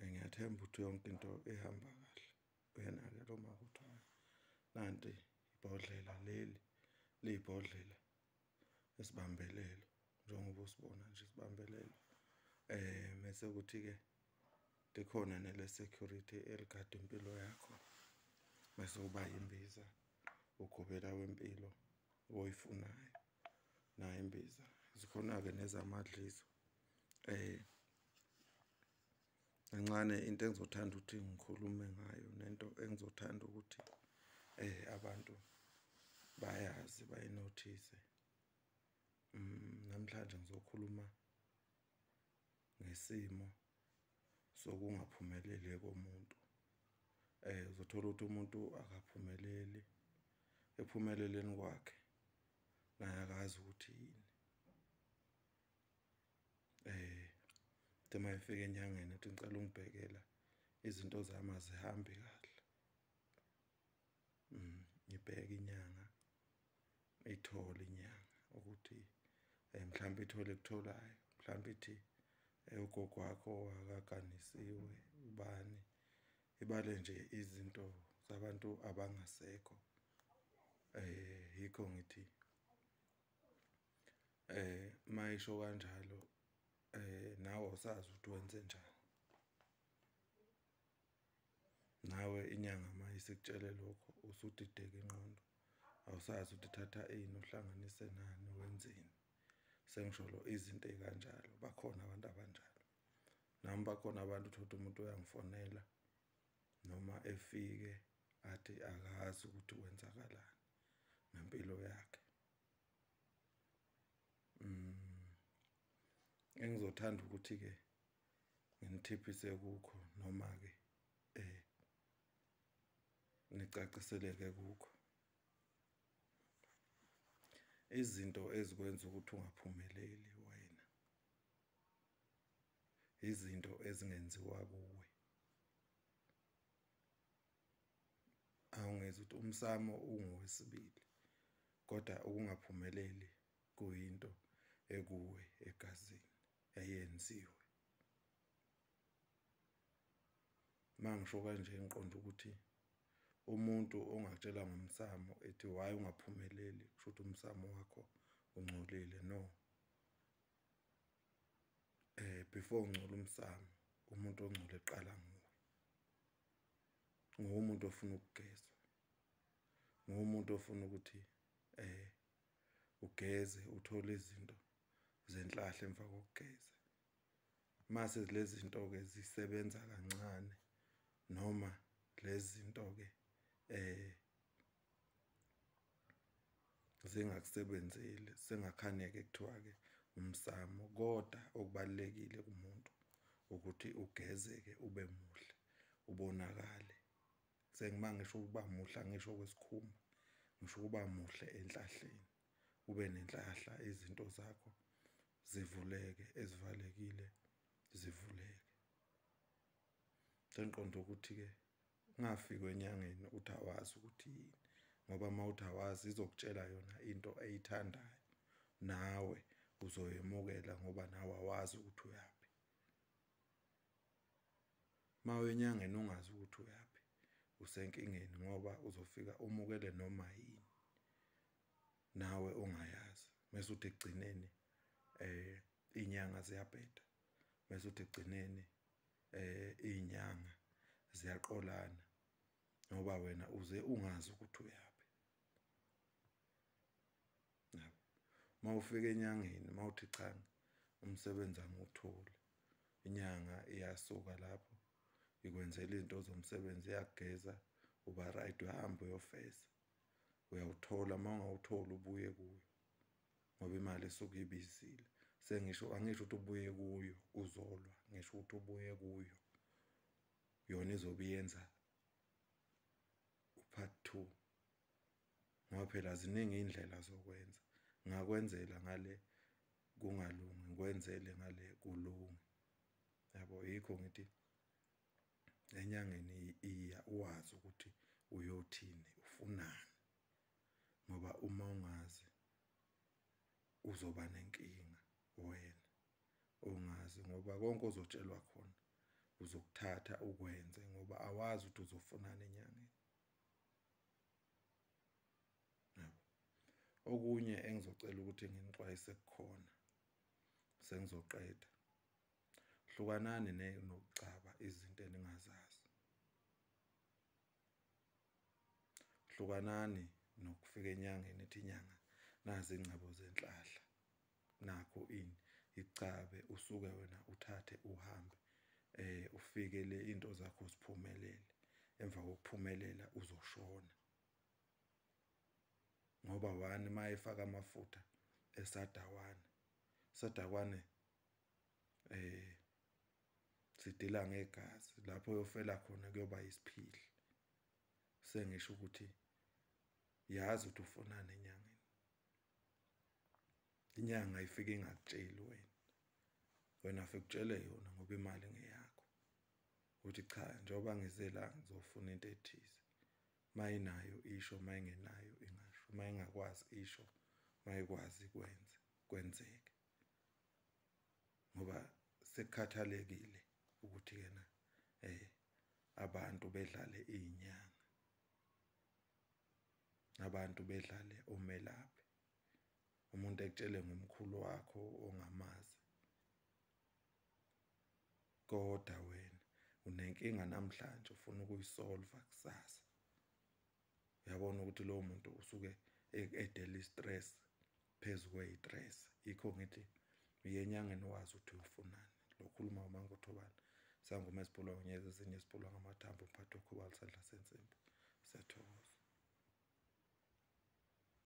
Eh, ngiyathemba ukuthi yonke into ihamba kahle uyena-ke lo maka ukuthi hayi nanti ibhodlela leli liyibhodlela esibambelelo njengoba usibona nje isibambelelo eh mese ukuthi-ke likhona nele-security eligada impilo yakho mese uba yimbiza ugobela wempilo oyifunayo nayo imbiza zikhona-ke nezamadliso um eh, kancane into engizothanda ukuthi ngikhulume ngayo nento engizothanda ukuthi eh abantu bayazi bayinothise mm, namhlanje ngizokhuluma ngesimo sokungaphumeleli komuntu eh uzothola ukuthi umuntu akaphumeleli ephumeleleni kwakhe naye akazi ukuthi yini eh tema efike enyangeni athi ngicela ungibhekela izinto zami azihambi kahle mm ngibheke inyanga ithole inyanga ukuthi eh, mhlawumbe ithole kutholayo mhlawumbe ithi eh, ugogo wakho akaganisiwe ubani ibale nje izinto zabantu abangasekho eh yikho ngithi eh mayisho kanjalo eh nawe usazi ukuthi wenze njani nawe inyanga mayisikutshele lokho usudideka inqondo awusazi ukuthi thatha ini uhlanganise nani wenzeni sengisho lo izinto ekanjalo bakhona abantu abanjalo nami bakhona abantu uthola umuntu uyangifonela noma efike athi akazi ukuthi kwenzakalani ngempilo yakhe mm engizothanda ukuthi ke nginithiphise kukho noma ke eh nicaciseleke kukho izinto ezikwenza ukuthi ungaphumeleli wena izinto ezingenziwa kuwe awungezi ukuthi umsamo ungowesibili kodwa ukungaphumeleli kuyinto ekuwe egazini eyenziwe mangisho kanje ngiqonda ukuthi umuntu ongatshela ngomsamo ethi why ungaphumeleli kusho ukuthi umsamo wakho ungcolile no eh before ungcola umsamo umuntu ongcole eqala nguwe ngumuntu ofuna ukugeza ngumuntu ofuna ukuthi eh ugeze uthole izinto zenhlahle emva kokugeza mase lezi zinto ke zisebenza kancane noma lezi zinto ke eh zingakusebenzeli sengakhaneke kuthiwa-ke umsamo kodwa okubalulekile kumuntu ukuthi ugezeke ube muhle ubonakale sengima ngisho ukuba muhle angisho kwesikhumba ngisho ukuba muhle enhlahleni ube nenhlahla izinto zakho zivuleke ezivalekile zivuleke sengiqonda ukuthi-ke ungafiki enyangeni ukuthi awazi ukuthi yini ngoba uma uthi awazi izokutshela yona into eyithandayo nawe uzoyemukela ngoba nawe awazi ukuthi uyaphi uma uyenyangeni ungazi ukuthi uyaphi usenkingeni ngoba uzofika umukele noma yini nawe ongayazi mase uthi egcineni eh inyanga ziyabheda mase uthi egcineni eh izinyanga ziyaqolana ngoba wena uze ungazi ukuthi uyaphi yabo mawufika enyangeni mawuthi cha umsebenzi angiwutholi inyanga iyasuka lapho ikwenzela izinto zomsebenzi iyageza uba right uyahamba uyofesa uyawuthola uma ungawutholi ubuye kuyo ngoba imali esuke ibizile sengisho angisho ukuthi ubuye kuyo uzolwa ngisho ukuthi ubuye kuyo yona izobe yenza upart 2 ngoba phela ziningi indlela zokwenza ngakwenzela ngale kungalungi ngikwenzele ngale kulungi yabo yikho ngithi enyangeni iya uwazi ukuthi uyothini ufunani ngoba uma ungazi uzoba nenkinga wena ongazi ngoba konke ozotshelwa khona uzokuthatha ukwenze ngoba awazi ukuthi uzofunana enyangeni okunye engizocela ukuthi nginixwayise kukhona sengizoqeda hlukanani nokucaba izinto eningazazi hlukanani nokufika enyangeni ethi inyanga nazi ingcebo zenhlahla nakho ini icabe usuke wena uthathe uhambe eh ufike le into zakho siphumelele emva kokuphumelela uzoshona ngoba wani mayefaka amafutha esadawana sadakwane eh sidila ngegazi lapho yofela khona kuyoba isiphili sengisho ukuthi yazi ukuthi ufonani enyangeni inyanga ifike ingakutsheli wena wena fikutshele yona ngoba imali ngeyakho uthi cha njengoba ngize la ngizofuna into ethize mayinayo isho mayingenayo ingasho mayingakwazi isho mayikwazi kwenze kwenzeke ngoba sekukhathalekile ukuthi yena eh abantu bedlale inyanga abantu bedlale omelaphi umuntu ekutshele ngomkhulu wakho ongamazi kodwa wena unenkinga namhlanje ufuna ukuyisolva kusasa uyabona ukuthi lowo muntu usuke e-, edela i-stress phezu kweyi-stress yikho ngithi uyenyangeni wazi ukuthi uyofunani lokhuluma umangothobane sangoma esibholwa ngonyeza ezinye esibholwa ngamathambo umphathi okhubalisandla sensimbi siyathokoza